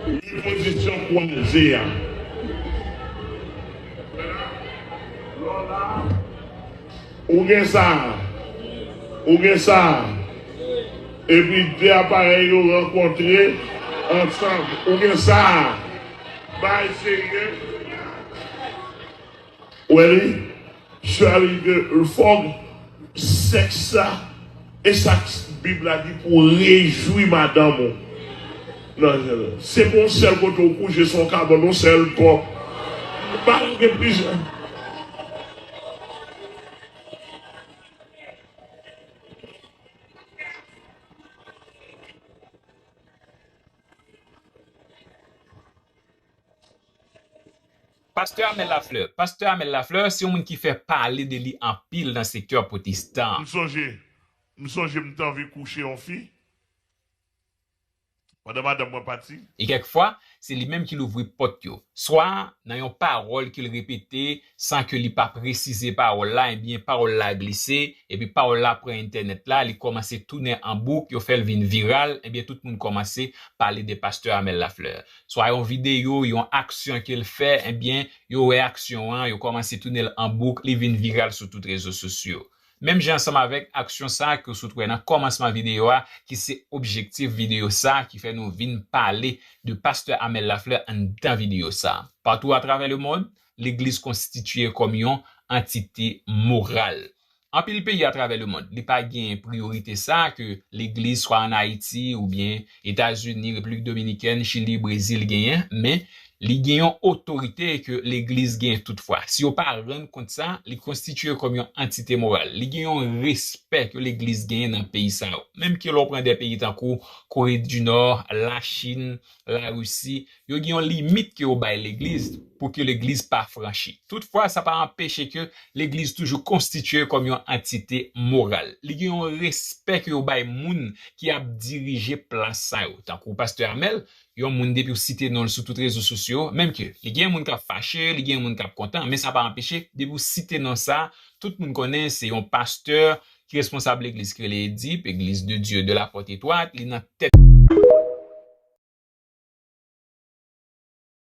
Li pozisyon kwaze a. Ou gen sa? Ou gen sa? Epi de aparèy yo rankontre ansanm. Ou gen sa? Bay serye Welly Charly de lfog sex sa esak bib la di pou rejwi madanm ou nan se pou yon sèl kote ou kouche son kabòn yon sèl bò pa gen plizyè Pastè Amel Lafleur Pastè Amel Lafleur se yon moun ki fè pale de li anpil nan sektè pwotestan an. M sonje m sonje m t anvi kouche yon fi pandan madanm mwen pati. E kèk fwa, se li menm ki louvri pòt yo, swa nan yon pawòl ke l repete san ke li pa presize pawòl la, ebyen pawòl la glise, epi pawòl la pran entènèt la, li kòmanse tounen an bouk, yo fèl vin viral, ebyen tout moun kòmanse pale de pastè Amel Lafleur. Swa yon videyo, yon aksyon kel fè, ebyen yo wè aksyon an, yo kòmanse tounenl an bouk, li vin viral sou tout rezo sosyo. Menm jan ansanm avèk aksyon sa ke w sot wè nan kòmansman videyo a ki se objektif videyo sa ki fè nou vin pale de pastè Amel Lafleur anndan videyo sa. Patou atravè lemond, Legliz konstitiye kòm yon antite moral. Anpil peyi atravè lemond, li pa gen priyorite sa a ke Legliz swa an Ayiti oubyen Etazini, Repiblik Dominikèn, Chili, Brezil genyen, men li gen yon otorite ke Legliz gen toutfwa. Si yo pa rann kont sa, li konstitiye kòm yon antite moral. Li gen yon respè ke Legliz genyen nan peyi sa yo. Menm ke lè w pran de peyi tankou Kore di Nò, Lachin, Larisi, Yo gen yon limit ke yo bay legliz pou ke legliz pa franchi. Toutfwa, sa pa anpeche ke legliz toujou konstitye kòm yon antite moral. Li gen yon respè ke yo bay moun ki ap dirije plas sa yo. Tankou Pastè Amel, yon moun depi w site non l sou tout rezo sosyo, menm ke li gen moun kap fache, li gen moun kap kontan, men sa pa anpeche depi w site non sa, tout moun konnen se yon pastè Ki responsab legliz ki rele Edip, Eglise de Dieu de la porte étroite, li nan tèt.